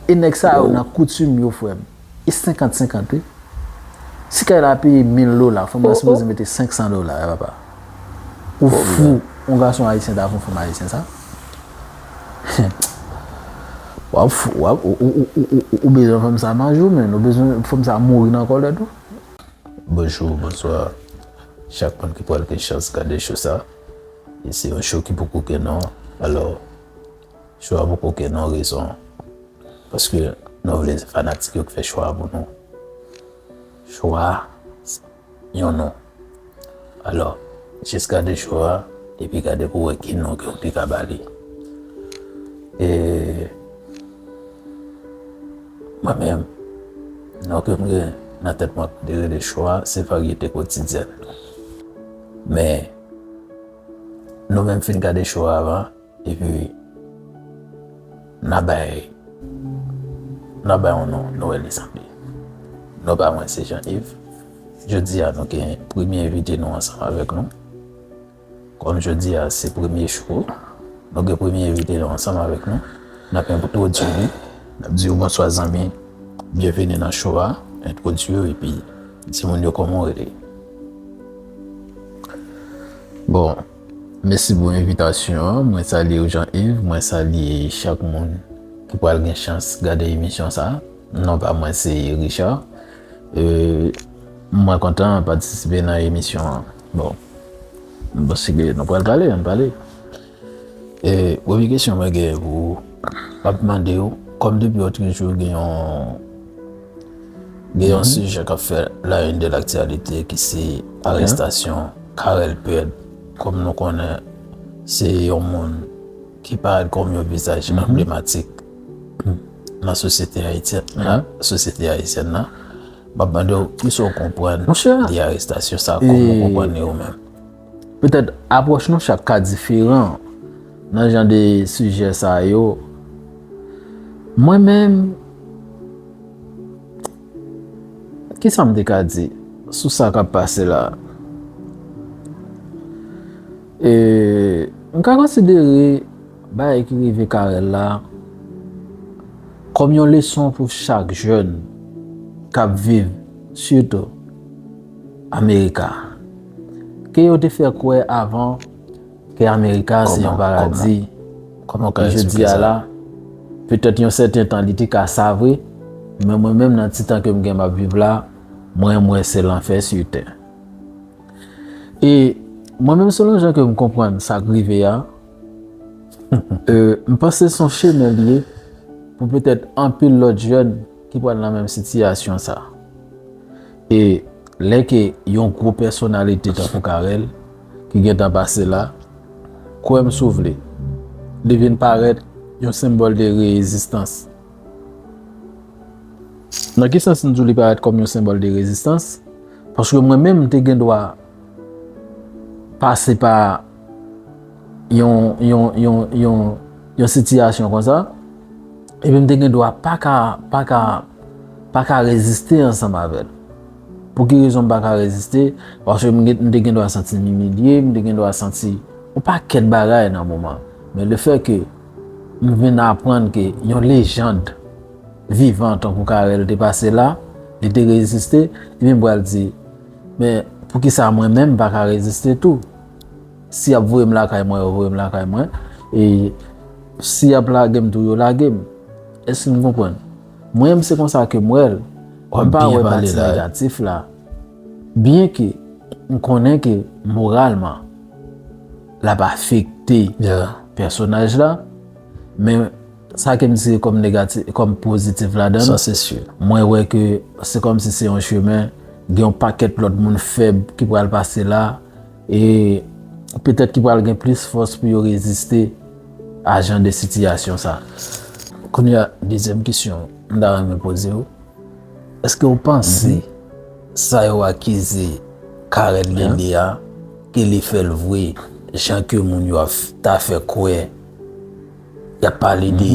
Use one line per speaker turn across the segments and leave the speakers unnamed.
E nèg sa yo nan koutim yo frèm. E 50 50 wi. Si kay la peye 1000 dola fanm nan sipoze mete 500 dola wi papa. Ou fou yon gason ayisyen ta fè yon fanm ayisyen sa? Wap fou wap ou bezwen fanm sa manje ou menn ou bezwen fanm sa mouri nan kòlèt ou. Bonjou
bonswa chak moun ki pral gen chans gade cho sa e se yon cho ki poko gen non alò. Chwa pou koken non rezon paske nou vle se fanatik yo ki fè chwa pou nou. Chwa yon non. Alò, jis gade chou a epi gade pou wè ki non ke ou te ka ba li. E mwen menm non ke m gen nan tèt mwen pou te rele chwa se varyete kotidyèn. Men nou menm fin gade chou a avan. Epi nan bay nan bay yon non Noël li sanble. Non pa mwen se Jean Yves. Jodi a nou gen premye envite nou ansanm avèk nou. Kòm jodi a se premye chou, nou gen premye envite nou ansanm avèk nou. N ap entwodui li, n ap di yo bonswa zanmi, byenvini nan chou a, entwodui yo epi di moun yo kòman w rele. Bon, Mèsi pou envitasyon an, mwen salye ou Jean Yves, mwen salye chak moun ki pral gen chans gade emisyon sa. Non pa mwen se Richard. E mwen kontan patisipe nan emisyon an. Bon, paske nou pral pale, ann pale. E premye kesyon mwen gen pou ou, map mande ou, kòm depi ou toujou gen yon Gen yon sijè kap fè la une de l'actualité ki se arestasyon Carel Pèd kòm nou konnen se yon moun ki parèt kòm yon vizaj anblematik nan sosyete ayisyèn nan. Map mande w kisa w konprann de arestasyon sa, kòman w konprann li ou menm? Petèt
apwòch nou chak ka diferan nan jan de sijè sa yo. Mwen menm, kisa m te ka di sou sa k ap pase la? M ka konsidere bagay ki rive Carel la kòm yon leson pou chak jèn k ap viv sitou. America. Ke yo te fè kwè avan ke America se yon paradi, e
jodi a la,
petèt yon sèten tan li te ka sa vre, men mwen menm nan ti tan ke m gen m ap viv la, mwen m wè se lanfè su tè. E mwen menm selon jan ke m konprann sa k rive a, m panse son chemen li ye pou petèt anpil lòt jèn ki pral nan menm sitiyasyon sa. E lè ke yon gwo pèsonalite tankou Carel, ki gen tan pase la, kwè m si w vle, li vin parèt yon senbòl de reezistans. Nan ki sans m di w li parèt kòm yon senbòl de reezistans? Paske mwen menm m te gen dwa pase pa. yon sitiyasyon kon sa, epi m te gen dwa pa ka, pa ka, pa ka reziste ansanm avè l. Pou ki rezon m pa ka reziste? Paske m te gen dwa santi m imilye, m te gen dwa santi yon pakèt bagay nan moman an. Men le fè ke m vin aprann ke yon lejand vivan tankou Carel te pase la, li te reziste, epi m pral di, men, pou ki sa mwen menm m pa ka reziste tou? Si yap voyem lakay mwen yo voyem lakay mwen e si yap lagem tou yo lagem eske nou konprann mwen menm se konsa kem wèl mwen pa wè pati negatif la byen ke m konnen ke moralman lap afekte pèsonaj la men Sa ke m tire kòm negati, kòm pozitif ladan l, sa se si mwen
wè ke
se kòm si se yon chemen, gen yon pakèt lòt moun fèb ki pral pase la e petèt ki pral gen plis fòs pou yo reziste a jan de sitiyasyon sa. Kounye a,
dezyèm kesyon m ta renmen poze w, èske w panse sa yo akize Carel Dende a ke li fè l vwe jan ke moun yo ap ta fè kwè Y ap pale de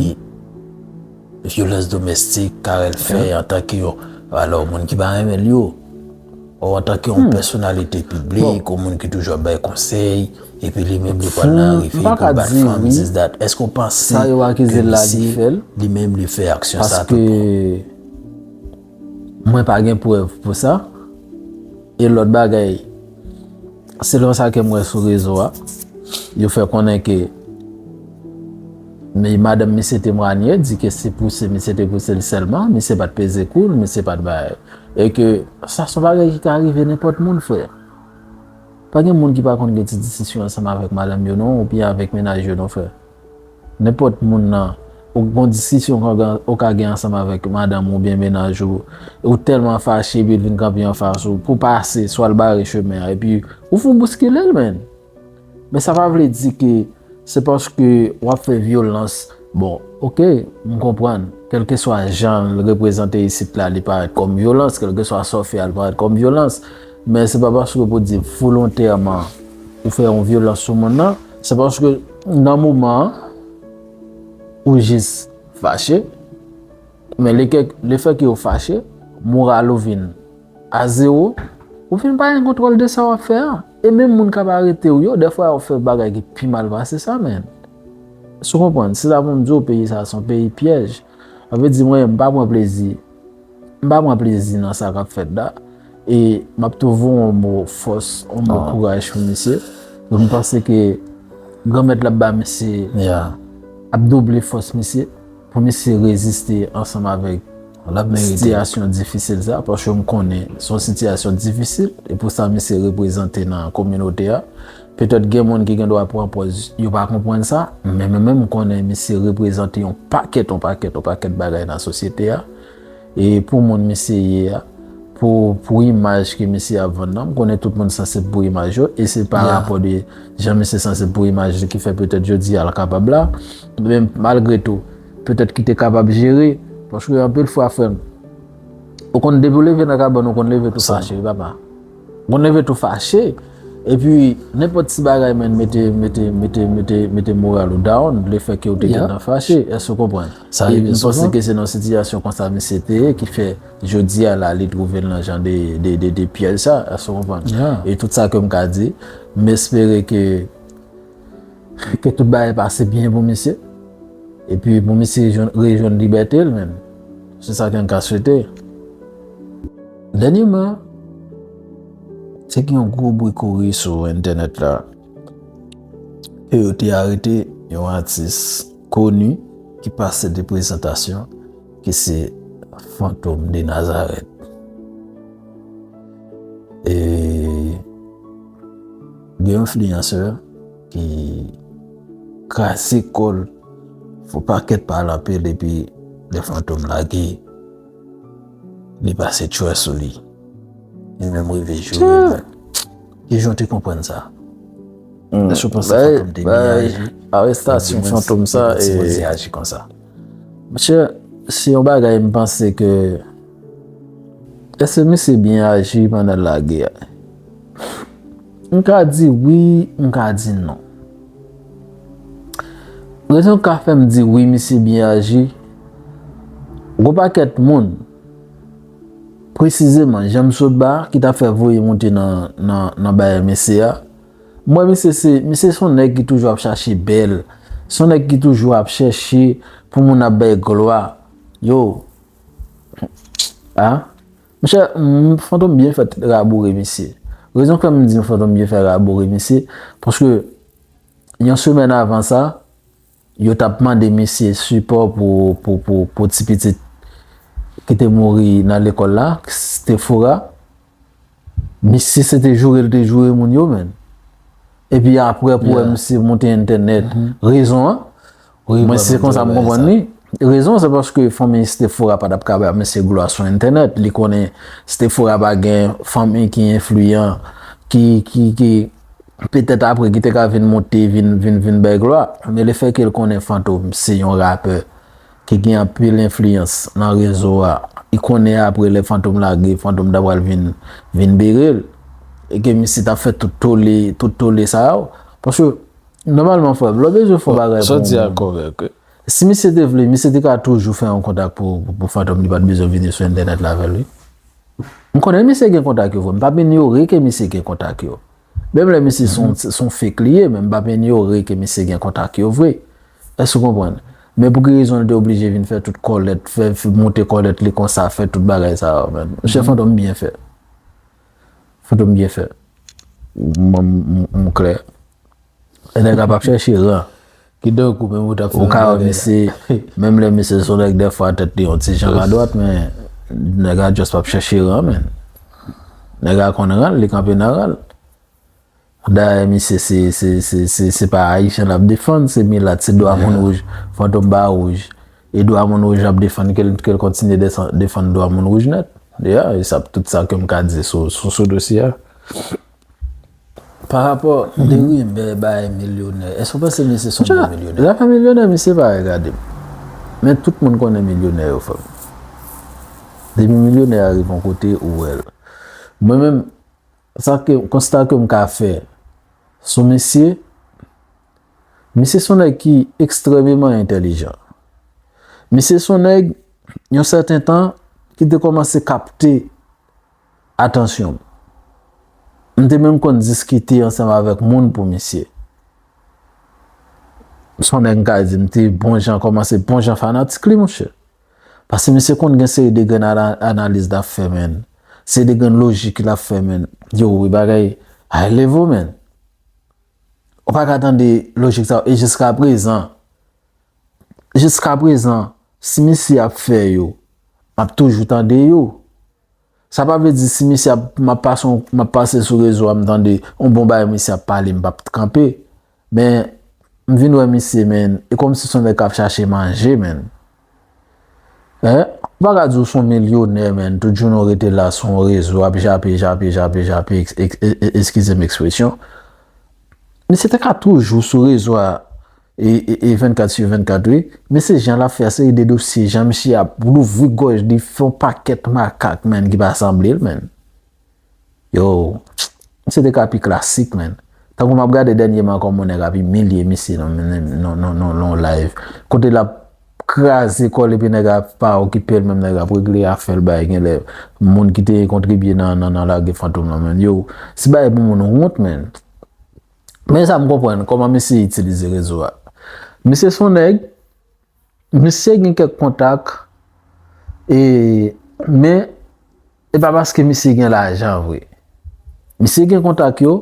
vyolans domèstik Carel fè antanke yon, alò moun ki pa renmen l yo, o antanke yon pèsonalite piblik, yon moun ki toujou ap bay konsèy, epi li menm li pral nan revi pou l bat fanm, dis dat. Èske w panse ke misye
li menm li fè
aksyon sa tout bon?
Mwen pa gen prèv pou sa. E lòt bagay, selon sa ke m wè sou rezo a, yo fè konnen ke madanm misye temwanye, di ke se pouse misye te pouse l sèlman, misye pa t peze kou l, misye pa t bay. E ke sa son bagay ki ka rive nenpòt moun frè. Pa gen moun ki pa konn gen ti disisyon ansanm avèk madanm yo non, oubyen avèk mennaj yo non frè. Nenpòt moun nan ou gon diskisyon ou ka gen ansanm avèk madanm ou oubyen menaj ou e ou tèlman fache epi l vin kanpe anfas ou pou pase swa l bare chemen an epi ou fout bouskile l menn. Men sa pa vle di ke se paske w ap fè vyolans bon ok m konprann kèlkeswa jan l reprezante isit la li parèt kòm vyolans kèlkeswa sa w fè a li parèt kòm vyolans Men se pa paske pou di volontèman ou fè yon vyolans sou moun nan, se paske nan moman an ou jis fache, men le fè ke ou fache, moral ou vin a zewo, ou vin pa gen kontwòl de sa wap fè an, e menm moun kap arete ou yo, defwa yo fè bagay ki pi mal pase sa menm. Eskew konprann? Se sa poum diw peyi sa son peyi pyèj. Sa vle di mwen menm m pa pran plezi. M pa pran plezi nan sa kap fèt la e map tou voye yon mo fòs, yon mo kouraj pou misye. Pou m panse ke Granmèt la ap ba misye, ap double fòs misye pou misye reziste ansanm avèk sitiyasyon difisil sa. Paske m konnen se yon sitiyasyon difisil e pou sa misye reprezante nan kominote a. Petèt gen moun ki gen dwa pran pòz yo pa konprann sa, men mwen menm m konnen misye reprezante yon pakèt, yon pakèt, yon pakèt bagay nan sosyete a. E pou moun misye ye a, pou, pou imaj ke misye ap vann nan, m konnen tout moun sansib pou imaj yo, e se pa rapò de jan misye sansib pou imaj li ki fè petèt jodi a l kapab la. Men malgre tou, petèt ki te kapab jere, paske anpil fwa frè m, ou konn depi w leve nan kabann ou konn leve tou fache wi papa. Mwen nève tou fache epi nenpòt ti bagay menn mete mete mete mete mete moral ou down le fè ke ou te gentan fache èske ou konprann sa rive souvan panse ke se nan sitiyasyon konsa misye te ye ki fè jodi a la li twouve l nan jan de de de de pyèj sa èske ou konprann e tout sa ke m ka di m espere ke Ke tout bagay pase byen pou misye. Epi pou misye rejwenn libète l menm. Se sa ke m ka swete. Dènyeman, te gen yon gwo bri kouri sou entènèt la. Ke yo te arete yon atis koni ki pase de prezantasyon ki se Fantom de Nazarèt. E. Gen yon fliyansè ki kraze kòl fò pakèt pa al anpil epi lè fantom lage li pase tchwè sou li. Li menm rive joure moun. Ki jan w te konprann sa? Èske w panse fantom te byen aji? Arestasyon fantom sa e. Ou te aji konsa? Monchè, se yon bagay m panse ke èske misye byen aji pandan l lage a? M ka di wi, m ka di non. Rezon k ka fè m di wi misye byen aji, gen yon pakèt moun, presizeman jan m sot ba a ki ta fè voye monte nan baay mesye a. M wè misye se, misye se yon nèg ki toujou ap chache bèl, se yon nèg ki toujou ap chèche pou moun ap bay glwa. Yo! A! Monchè, Fantom byen fèt raboure misye. Rezon k fè m di w Fantom byen fèt raboure misye, paske yon semèn avan sa, yo t ap mande misye sipò pou ti pitit ki te mouri nan lekòl la, Stefora. Misye se te joure l te joure moun yo menn. Epi aprè pou wè misye monte entènèt. Rezon an? Mwen se konsa m konprann li. Rezon se paske fanmi Stefora pa t ap ka bay mesye glwa sou entènèt. Li konnen Stefora pa gen fanmi ki enfliyan ki petèt apre ki te ka vin monte vin bay glwa. Men lefèke l konnen Fantom se yon rapè ki gen anpil enfliyans nan rezo a, li konnen apre lè Fantom lage, Fantom ta pral vin bere l e ke misye t ap fè tout tole sa yo. Nòmalman frè m, lè w bezwen fè yon bagay pou yon moun. Sa w di a kòrèk wi.
Si misye te
vle, misye te ka toujou fè yon kontak pou Fantom li pa t bezwen vini sou entènèt la avè l wi. M konnen misye gen kontak yo vre, m p ap inyore ke misye gen kontak yo. Menm lè misye se yon fake li ye men m p ap inyore ke misye gen kontak yo vre. Èske w konprann? Men pou ki rezon li te oblije vin fè tout kòlèt, fè monte kòlèt li konsa, fè tout bagay sa yo men. Misye Fantom byen fè. Foto m byen fèt. M klè. E nèg la pap chèche ran. Ki donk ou menm
ou tap fè yon bagay la. Ou ka wè misye,
menm lè misye son nèg dèfwa tèt li yon ti jan madwat men, nèg la just pap chèche ran menn. Nèg la konn ran l, li kanpe nan ran l. Dayè misye se se se se se pa Ayisyen lap defann se milat se dwa moun wouj Fantom pa wouj e dwa moun wouj lap defann kel kel kontinye desan defann dwa moun wouj nèt ya e sa tout sa kem ka di sou sou sou dosye a
parapò de rimè bay milyonè èske ou panse misye son bon milyonè zafè milyonè misye
pa regade m men tout moun konnen milyonè yo frè m depi milyonè a rive yon kote ou wèl mwen menm. Konsta ke m ka fè sou misye, misye son nèg ki ekstrèmeman entèlijan. Misye son nèg, yon sèten tan, ki te kòmanse kapte atansyon m. M te menm konn diskite ansanm avèk moun pou misye. Son nèg m ka di m te bon jan kòmanse bon jan fanatik li monchè. Pase misye konn gen seri de grenn analiz lap fè menn. Seri de grenn lojik lap fè menn. Yo wi bagay high level menn. Ou pa ka tande lojik sa yo e jiska prezan. Jiska prezan si misye ap fè yo map toujou tande yo. Sa pa vle di si misye ap map pase yon map pase sou rezo a m tande yon bon bagay misye ap pale m pap kanpe men m vin wè misye menn e kòmsi son nèg kap chache manje menn eh ou pa ka di ou son milyonè menn tout jounen ou rete la sou yon rezo ap jape jape jape jape eskize m ekspresyon misye te ka toujou sou rezo a E 24 su 24 wi. Men se jan lap fè seri de dosye jan misye ap louvri gòj li fè yon pakèt makak menn ki pa sanblel menn. Yow misye te ka pi klasik menn. Tankou map gade dènyeman kòman yon nèg ap imilye misye nan yon live. Kote lap kraze kòl epi nèg a pa okipel menm nèg ap regle afèl bay genlè moun ki te kontribye nan lage fantom lan menm. Yow se bagay pou moun wont menn. Men sa m konprann kòman misye itilize rezo a. Misye son nèg, misye gen kèk kontak e men e pa paske misye gen lajan vre. Misye gen kontak yo,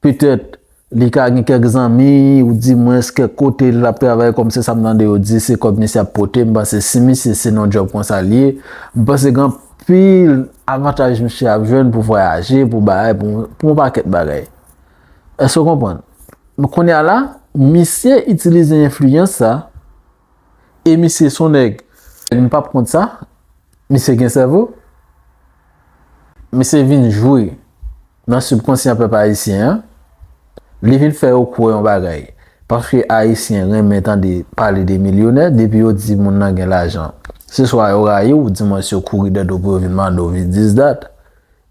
petèt li ka gen kèk zanmi ou di mwens kèk kote l ap travay kòm se sa m tande yo di se kòb misye ap pote m panse si misye se nan djòb konsa l ye m panse gen anpil avantaj misye ap jwenn pou vwayaje pou bagay pou yon pakèt bagay. Èske w konprann? Donk kounye a la, misye itilize enfliyans sa, e misye se yon nèg, m p ap kont sa, misye gen sèvo, misye vin jwe nan sibkonsyan pèp ayisyen an, li vin fè yo kwè yon bagay, paske ayisyen renmen tande pale de milyonè, depi yo di moun nan gen lajan, se swa yo rayi w, dimwens yo kouri dèt ou pou yo vin mande w vizidat.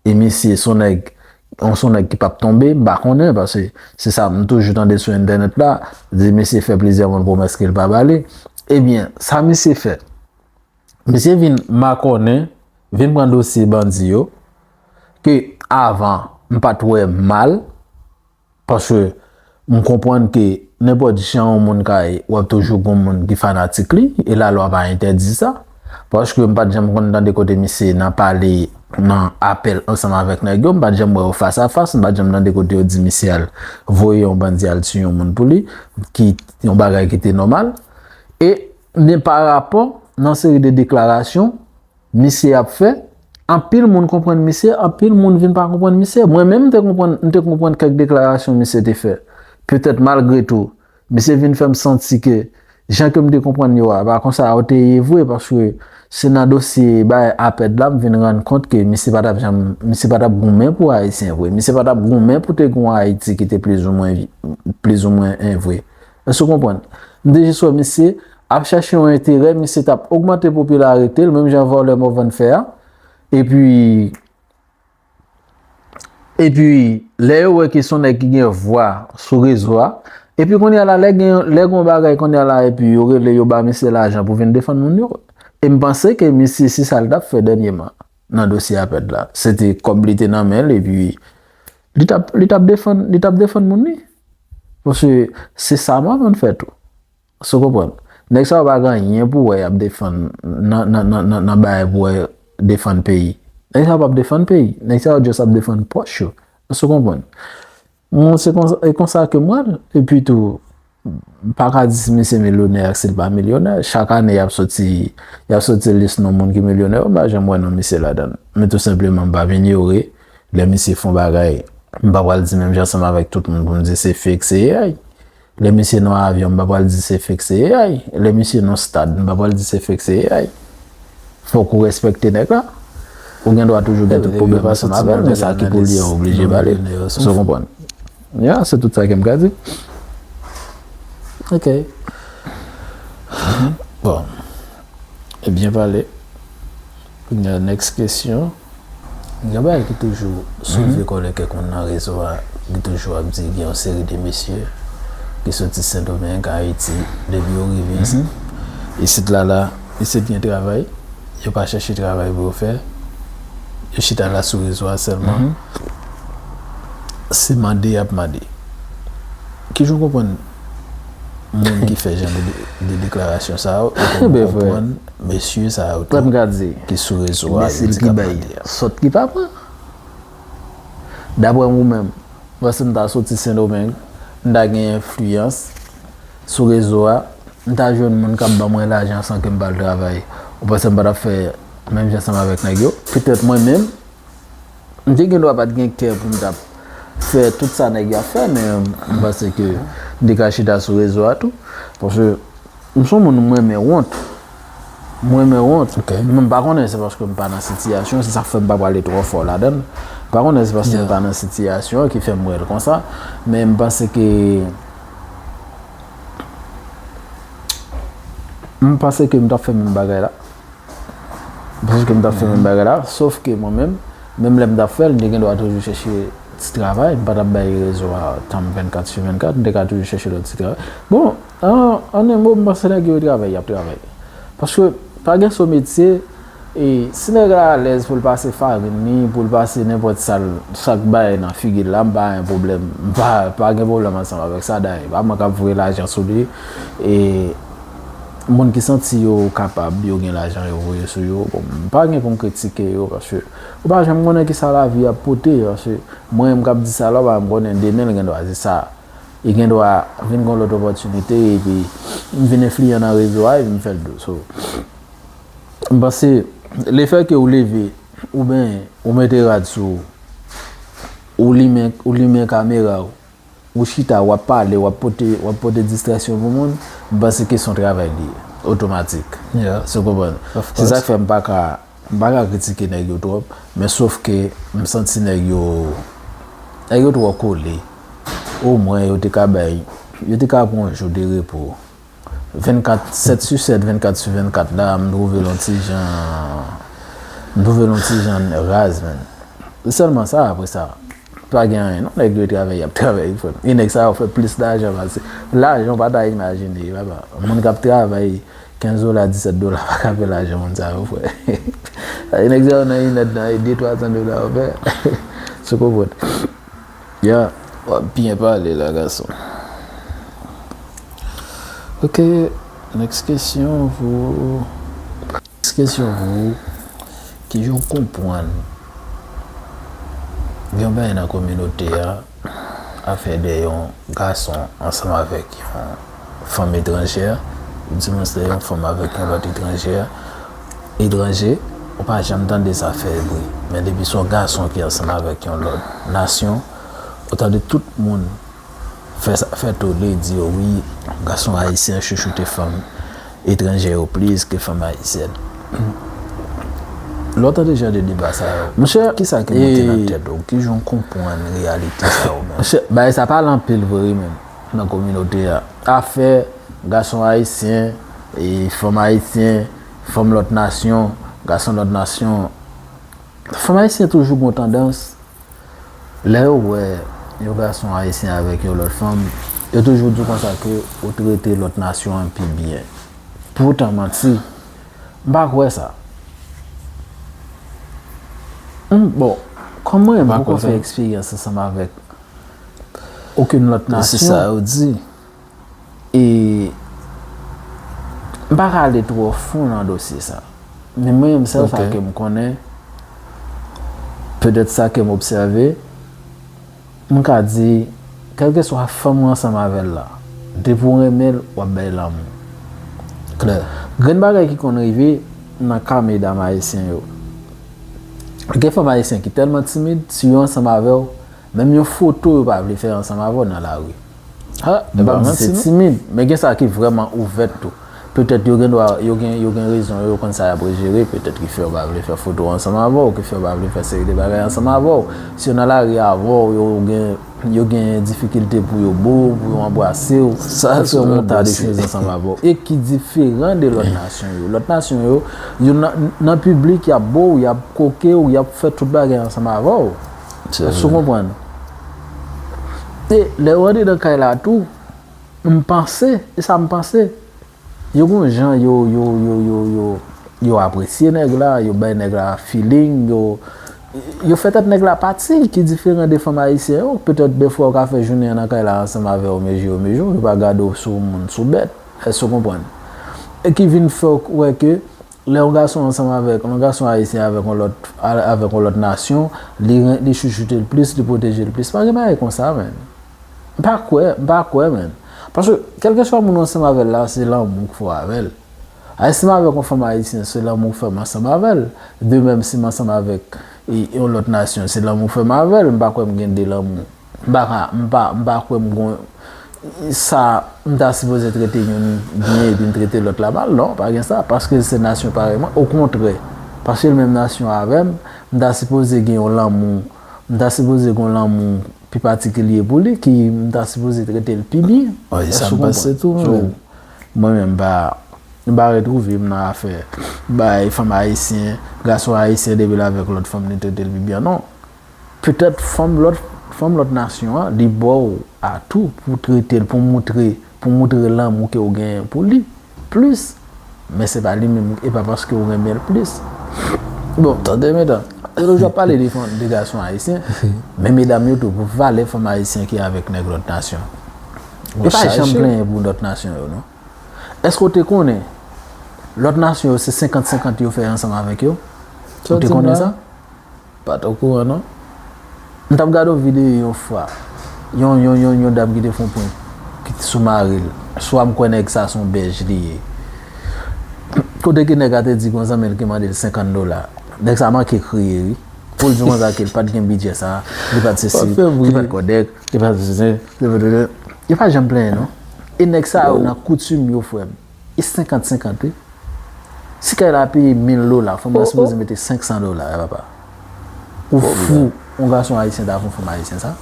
e misye son nèg yon son nèg ki pap tonbe m pa konnen paske se sa m toujou tande sou entènèt la di misye fè plizyè moun pwomès ke l pa ba li ebyen sa misye fè misye vin makònen vin pran dosye bandi yo ke avan m pat wè mal. Paske m konprann ke nenpòt jan yon moun ka ye, wap toujou gon moun ki fanatik li, e la lwa pa entèdi sa. Paske m pat janm konn tande kote misye nan pale nan apèl ansanm avèk nèg yo, m pat janm wè yo fas a fas, m pat janm tande kote yo di misye al voye yon bandi al tiye yon moun pou li, ki yon bagay ki te nòmal. E men pa rapò nan seri de deklarasyon. misye ap fè, anpil moun konprann misye, anpil moun vin pa konprann misye. Mwen menm m te konprann, m te konprann kèk deklarasyon misye te fè. Petèt malgre tou, misye vin fè m santi ke jan ke m te konprann yo a, pa kon sa yo te ye vre paske se nan dosye bagay APED la m vin rann kont ke misye pa t ap janm, misye pa t ap goumen pou Ayisyen vre. Misye pa t ap goumen pou te gen yon Ayiti ki te plizoumwen, plizoumwen vre. Èske w konprann? M te jis wè misye ap chèche yon enterè, misye t ap ogmante popilarite l, menm jan vòlè Morvan fè a. Epi, epi, lè yo wè ke s on nèg ki gen vwa sou rezo a, epi kounye a la, lè gen, lè gen yon bagay kounye a la epi yo rele, yo ba misye lajan pou vin defann moun yo. E m panse ke misye se sa l t ap fè dènyeman nan dosye Apèd la. Se te kòb li te nan men l epi li t ap, li t ap defann, li t ap defann moun li. Paske se sa mwen konn fè tou. Èske w konprann? Nèg sa yo pa gen anyen pou wè y ap defann nan bagay pou wè defann peyi. Nèg sa yo p ap defann peyi. Nèg sa yo just ap defann pòch yo. Èske w konprann? Mwen se konsa, e konsa ke m wè l. Epi tou, m pa ka di si misye milyonè ak si l pa milyonè. Chak ane y ap soti, y ap soti lis non moun ki milyonè yo, m pa janm wè non misye ladan l. Men tou senpleman m p ap inyore. Lè misye fon bagay, m pa pral di menm jan ansanm avèk tout moun pou m di se fake, se AI. Lè misye nan avyon, m pa pral di se fake, se AI. Lè misye nan stad, m pa pral di se fake, se AI. Fòk ou respekte nèg la. Ou gen dwa toujou gen tout pwoblèm ansanm avè l, men sa ki pou li an, ou blije ba li l. Èske w konprann? Ya, se tout sa ke m ka di. Ok.
Bon. E byen pale. Kounya next kesyon. Gen yon bagay ki toujou soulve kòlè kèk moun nan rezo a, ki toujou ap di gen yon seri de mesye ki soti Sendomeng, Ayiti, depi yo rive isit la la, isit gen travay, yo pa chèche travay pou yo fè, yo chita la sou rezo a sèlman, se mande y ap mande. Kijan w konprann moun ki fè jan de deklarasyon sa yo e pou nou konpwann
mesye sa yo
tou ki
sou rezo a
yo di kap mande a. Sòt
ki pa pran. Daprè ou menm, mwen si m ta soti Sendomeng, m ta gen enfliyans sou rezo a, m ta jwenn moun kap ban mwen lajan san ke m pa al travay, ou panse m pa tap fè menm jan ansanm avèk nèg yo? Petèt mwen menm. M te gendwa pat gen kè pou m tap fè tout sa nèg yo ap fè men m panse ke m te ka chita sou rezo a tou paske m son moun m renmen wont m renmen wont men m pa konnen se paske m pa nan sitiyasyon se sak fè m pa prale twò fò ladan l m pa konnen se paske m pa nan sitiyasyon ki fè m wè l konsa men m panse ke m panse ke m tap fè menm bagay la. Paske m t ap fè menm bagay la. Sof ke mwen menm, menm lè m t ap fè l, m te gendwa toujou chèche ti travay. M pa t ap bay rezo a tan m 24 su 24. M te ka toujou chèche lòt ti travay. Bon, an en mo, m panse nèg yo travay, y ap travay. Paske pa gen so metye, e si nèg la alèz pou l pase farin li, pou l pase nenpòt sa l, sa k bay nan figi l la, m pa gen pwoblèm. M pa gen pwoblèm ansanm avèk sa. Dayè, pa mwen k ap voye lajan sou li. E. Moun ki santi yo kapab, yo gen lajan yo voye sou yo, bon m pa gen pou m kritike yo paske ou pa janm konnen kisa lavi ap pote paske mwen menm kap di sa la ou pa janm konnen demen l gendwa se sa e gendwa vin gon lòt opòtinite epi m vin enfliyan nan rezo a epi m fè l dous so m panse le fè ke ou leve ou benyen ou mete rad sou ou ou limen kamera ou Ou chita wap pale wap pote wap pote distraksyon pou moun m panse ke son travay li ye otomatik se konprann se sak fè m paka m paka kritike nèg yo twòp men sof ke m santi nèg yo nèg yo twò kole o mwen yo te ka bay yo te ka pran yon jou de repo 24, 7 su 7, 24 su 24 la a m trouve l on ti jan, m trouve l on ti jan raz menn. Se sèlman sa apre sa, pa gen anyen non, nèg yo travèy y ap travèy frè m. E nèg sa yo fè plis lajan pase, lajan w pa ta imajine papa. Moun k ap travay 15 dola, 17 dola pa ka fè lajan moun sa yo fè. Sa vle di nèg sa yo nan inèdtan e de twa san dola yo fè, sou kokote. Ya wap byen pale la gason. Ok next kesyon Next kesyon Kijan ou konpwann Yon bagay nan kominote a afè de yon gason ansanm avèk yon fanm etranjè, divòs lè yon fanm avèk yon lòt etranjè, etranje, ou pa janm tande sa fè bri. Men depi son gason ki ansanm avèk yon lòt nasyon, ou tande tout moun fè sa fè tole, di yo wi, gason ayisyen chouchoute fanm etranjè yo plis ke fanm ayisyèn. Lè w tande jan de deba sa yo, ki sa ki monte nan tèt ou? Ki jan w konprann reyalite sa yo menm? Monchè, bagay sa pale anpil vre wi menm. nan kominote a. Afè gason ayisyen, fanm ayisyen, fanm lòt nasyon, gason lòt nasyon. Fanm ayisyen toujou gon tandans, lè yo wè yon gason ayisyen avèk yon lòt fanm, yo toujou di konsa ke ou trete lòt nasyon an pi byen. Poutan manti, m pa kwè sa. Bon, kòm mwen menm m poko fè eksperyans ansanm avèk okenn lòt nasyon. Se sa yo di.
E
m pa ka ale twò fon nan dosye sa. Men mwen menm sèl sa ke m konnen, petèt sa ke m obsève, m ka di, kèlkeswa fanm ou ansanm avè l la, depi w renmen l, w ap bay lanmou. Klè.
Grenn bagay
ki konn rive nan ka medam ayisyen yo, gen fanm ayisyen ki tèlman timid, si yo ansanm avè w, Menm yon foto yo pa vle fè ansanm avè w nan lari. M p ap
di se timid,
men gen sa ki vrèman ouvè tou. Petèt yo gendwa yo gen rezon yo, yo konn sa y ap rejere, petèt ki fè yo pa vle fè foto ansanm avè w, ki fè yo pa vle fè seri de bagay ansanm avè w. Si yo nan lari avè w, yo gen difikilte pou yo bo w, pou yo anbrase w, pou yo yon ta de choz ansanm avè w. E ki diferan de lòt nasyon yo. Lòt nasyon yo, yo nan piblik, y ap bo w, y ap koke w, y ap fè tout bagay ansanm avè w. Èske ou konprann? E lè ou antre nan kay la tou, m panse, e sa m panse, yo gen yon jan yo, yo, yo, yo, yo, yo apresye nèg la, yo bay nèg la feeling, yo, yo fè tèt nèg la pati ki diferan de fanm ayisyen yo. Petèt dèfwa ou ka fè jounen an nan kay la ansanm avè yo mezi yo mezi w, yo pa gade w sou moun, sou bèt. Èske ou konprann? E ki vin fè w wè ke. Lè yon gason ansanm avèk yon gason ayisyen avèk yon lòt avèk yon lòt nasyon li ren li chouchoute l plis li pwoteje l plis pa gen bagay konsa menn m pa kwè m pa kwè menn paske kèlkeswa moun ou ansanm avè l la se lanmou k fè w avè l ayè si m avèk yon fanm ayisyen se lanmou k fè m ansanm avè l de mèm si m ansanm avèk yon lòt nasyon se lanmou k fè m avè l m pa kwè m gen de lanmou. M pa ka, m pa, m pa kwè m gon sa m ta sipoze trete youn byen epi m trete lòt la mal. Non, pa gen sa. Paske l se nasyon parèy mwen. Okontrè, paske l menm nasyon avè m, m ta sipoze gen yon lanmou, m ta sipoze gen yon lanmou pi patikilye pou li ki m ta sipoze trete l pi byen. E sa m panse
tou mwen menm. Mwen menm
m pa, m pa retwouve m nan afè bay fanm ayisyen, gason ayisyen depi l avèk lòt fanm li trete l pi byen. Non. Petèt fanm lòt fanm lòt nasyon an li ba w atou pou w trete l, pou w moutre pou w moutre lanmou ke w genyen pou li plis men se pa li menm e pa paske w renmen l plis bon tande medan e lòt jou ap pale de fanm de gason ayisyen men medam yo tou pou valè fanm ayisyen ki avèk nèg lòt nasyon yo pa janm plenyen pou lòt nasyon yo non èske w te konnen lòt nasyon yo se senkant senkant yo fè ansanm avèk yo ou te konnen sa? Pat
okouran non. M tap
gade yon video yon fwa. Yon yon yon yon dam ki te fon prank ki t sou maril. Swa m kwè nèg sa son bèj li ye. Kote ke nèg a te di gon zanmi l ki mandel 50 dola. Nèg sa manke kriye wi. Pou l di konsa ke l pat gen bidjè sa, li pat sesi, li pat kòdèk, li pat zizen, li pat. Yo pa janm plenyen non. E nèg sa yo nan koutim yo frè m. E 50 50 wi. Si kay la peye 1000 dola fanm nan sipoze mete 500 dola papa. Ou fou yon gason ayisyen ta fon fanm ayisyen sa?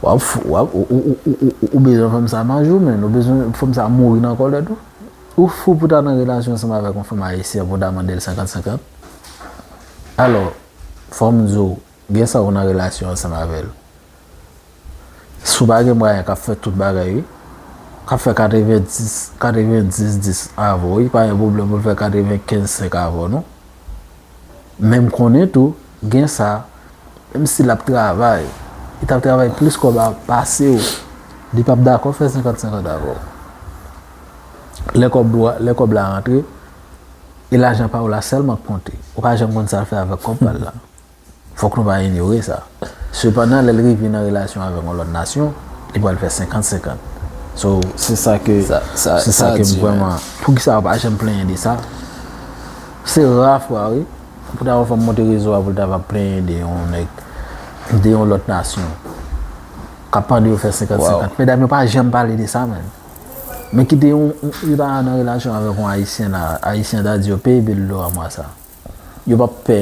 Wap fou wap ou bezwen fanm sa manje ou menn ou bezwen fanm sa mouri nan kòlè tou. Ou fou pou ta nan relasyon ansanm avèk yon fanm ayisyen pou ta mandel 50 50? Alò fòm di w. Gen sa ou nan relasyon ansanm avè l. Si w pa gen mwayen k ap fè tout bagay wi. K ap fè katreven dis, katreven dis dis avè w wi. Pa gen pwoblèm pou l fè katreven kenz senk avè w non. Men m konnen tou gen sa menm si l ap travay, li t ap travay plis kòb pase w, li p ap dakò fè senkant senkant avè w. Lè kòb dou a, lè kòb la rantre, e lajan pa w la sèlman k konte. Ou pa janm konn sa l fè avèk kòb pa l la. Fòk nou pa inyore sa. Sepandan, lè l rive nan relasyon avèk yon lòt nasyon, li pral fè senkant senkant. So, se sa ke, se sa ke m vrèman. Poukisa yo pa janm plenyen de sa? Se ra fwa wi, pou ta wè yon fanm monte rezo a pou l ta va plenyen de yon nèg, de yon lòt nasyon, k ap mande yo fè senkant senkant. Medam yo pa janm pale de sa menn. Men kite yon, yo ta nan relasyon avèk yon Ayisyen la, Ayisyen ta di yo, peye bil dlo a mwa sa. Yo pap pè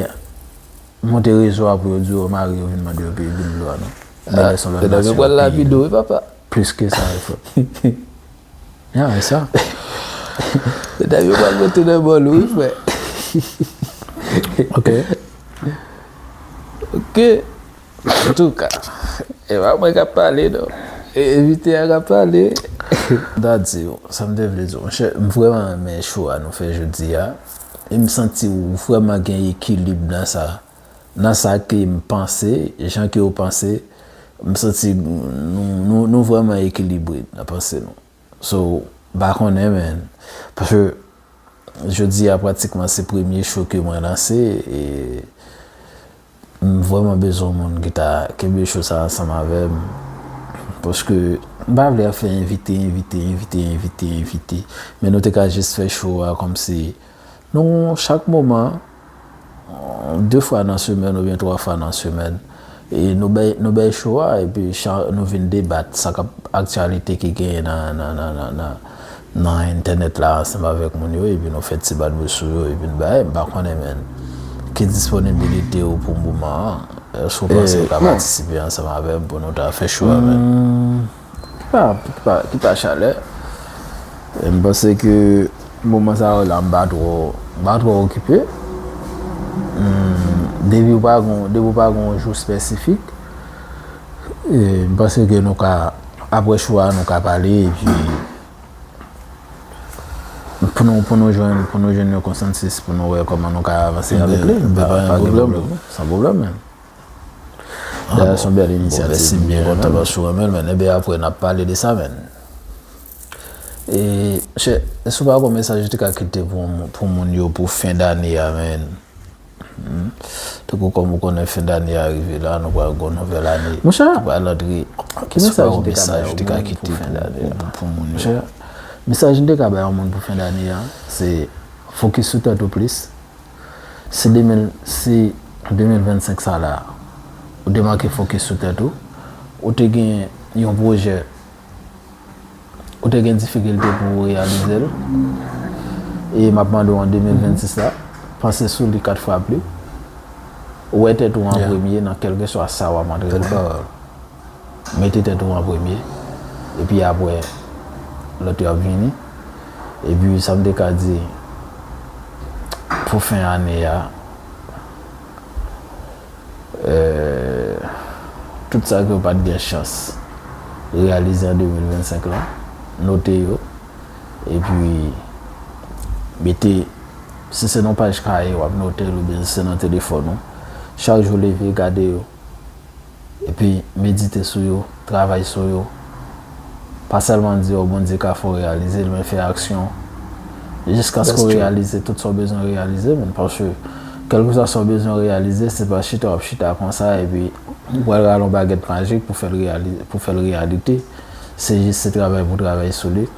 monte rezo a pou yo di yo mari yo vin mande yo peye bil dlo a non. Nan lè son lòt nasyon yo peye bil dlo
a. Plis ke sa yo fè.
Ya e sa.
E ta yo pap monte nan bòl ou wi frè.
Ok. Ok.
An tou ka. E pa mwen kap pale non. E envite a kap pale. Mta
di yo. Sa mte vle di yo. Mwen chè. M vreman renmen chou a nou fè jodi a. M santi w vrèman gen ekilib nan sa. Nan sa ke m panse, jan ke w panse, m santi nou vrèman ekilibre nan panse nou. So, m pa konnen men, paske jodi a pratikman se premye show ke mwen lanse e. M vrèman bezwen yon moun ki ta kenbe show sa ansanm avèm paske m pa vle ap fè envite envite envite envite envite men nou te ka jis fè show a kòmsi nou chak moman 2 fwa nan semèn oubyen 3 fwa nan semèn e nou bay nou bay show a epi nou vin debat sa kap aktyalite ki genyen nan nan nan nan nan entènèt la ansanm avèk moun yo epi nou fè ti badboul sou yo epi n bay, m pa konnen menn ki disponibilite ou pou moman an, èske ou panse ou ka patisipe ansanm avè m pou nou ta fè chou a menn? Ki pa chalè, m panse ke moman sa yo la m pa twò m pa twò okipe, depi ou pa gen yon jou espesifik Mpase ke nou ka apre show a nou ka pale epi pou nou pou nou jwenn pou nou jwenn yon konsansis pou nou wè kòman nou ka avanse avèk li pa gen pwoblèm pou nou san pwoblèm menm dayè son bèl inisyativ mèsi m byen kontan paske ou renmen l menn ebyen apre nap pale de sa menn Monchè èske ou pa gon mesaj ou te ka kite pou moun yo pou fen dane a menn. Tankou kòm ou konnen fen dane a rive la, nou pral gen yon nouvèl ane. Monchè! Ou pral antre. Ki mesaj ou te ka bay yon moun pou fen dane a? Monchè, mesaj m te ka bay yon moun pou fen dane a, se fokis sou tèt ou plis. Si 2025 sa la, ou te manke fokis sou tèt ou, ou te gen yon pwojè, Ou te gen difikilte pou ou reyalize l. E m ap mande ou an 2026 la, panse sou li 4 fwa pli. Wè tèt ou an premye nan kèlkeswa sa w ap antreprann. Mete tèt ou an premye. E pi apre, lòt yo ap vini. E pi sa m te ka di pou fen ane a. Tout sa ke w pat gen chans reyalize an 2025 lan, note yo, epi mete, si se nan paj kaye w ap note l oubyen si se nan telefòn ou, chak jou leve gade yo, epi medite sou yo, travay sou yo, Pa sèlman di yo Bondye ka fè w reyalize l men fè aksyon jiskaske w reyalize tout sa w bezwen reyalize man paske kèlkeswa sa w bezwen reyalize se pa chita w ap chita konsa epi ou pral rale yon bagèt majik pou w fè l reyalite se jis se travay pou w travay sou li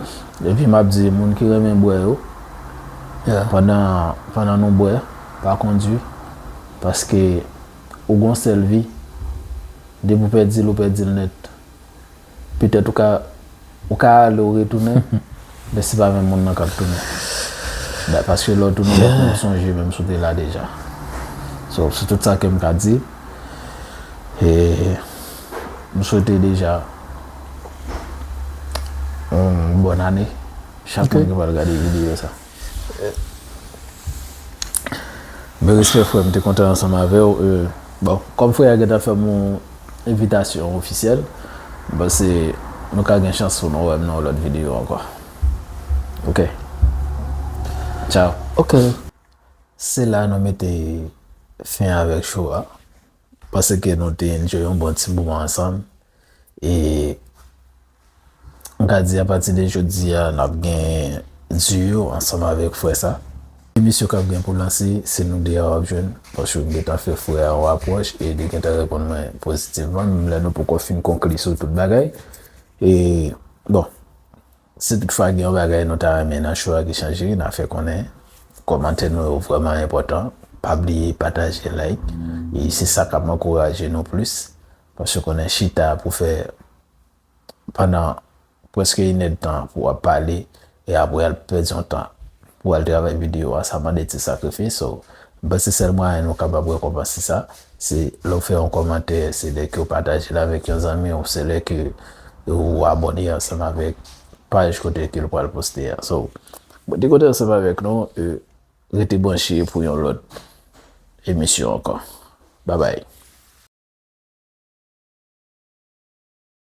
epi m ap di moun ki renmen bwè yo pandan nou bwè pa kondwi paske ou gen yon sèl vi depi w pèdi l ou pèdi l nèt. Petèt ou ka ou ka ale ou retounen men se pa menm moun nan k ap tounen da paske lè w tounen w ap konn sonje menm si w te la deja so se tout sa ke m ka di e m swete deja yon bòn ane chak moun ki pral gade videyo sa. Men respè frè m te kontan ansanm avèw e bon kòm frè a gentan fèm yon envitasyon ofisyèl m panse nou ka gen chans pou nou wèm nan yon lòt videyo ankò ok tchaw ok se la nou mete fen avèk show a m panse ke nou te enjoy yon bon ti moman ansanm e M ka di apati de jodi a nap gen duo ansanm avèk frè sa. Emisyon kap gen pou lanse se nou 2 a wap jwenn paske m gentan fè frè a yon apwòch e li gentan reponn mwen pozitivman menm lè nou poko fin konkli sou tout bagay e bon si tout fwa gen yon bagay nou ta renmen nan show a ki chanje na fè konnen kòmantè nou yo vrèman enpòtan pa bliye pataje like e se sa kap ankouraje nou plis Paske konnen chita pou fè pandan preske inèd tan pou wap pale e apre al pèdi yon tan pou al travay videyo a sa mande ti sakrifis so m panse sèl mwayen nou kapab rekonpanse sa se lèw fè yon kòmantè se lè kew patajel avèk yon zanmiw se lè ke ou abòne ansanm avèk paj kote ke l pral poste a so mwen te kontan ansanm avèk nou. Rete branche pou yon lòt emisyon ankò. Babay.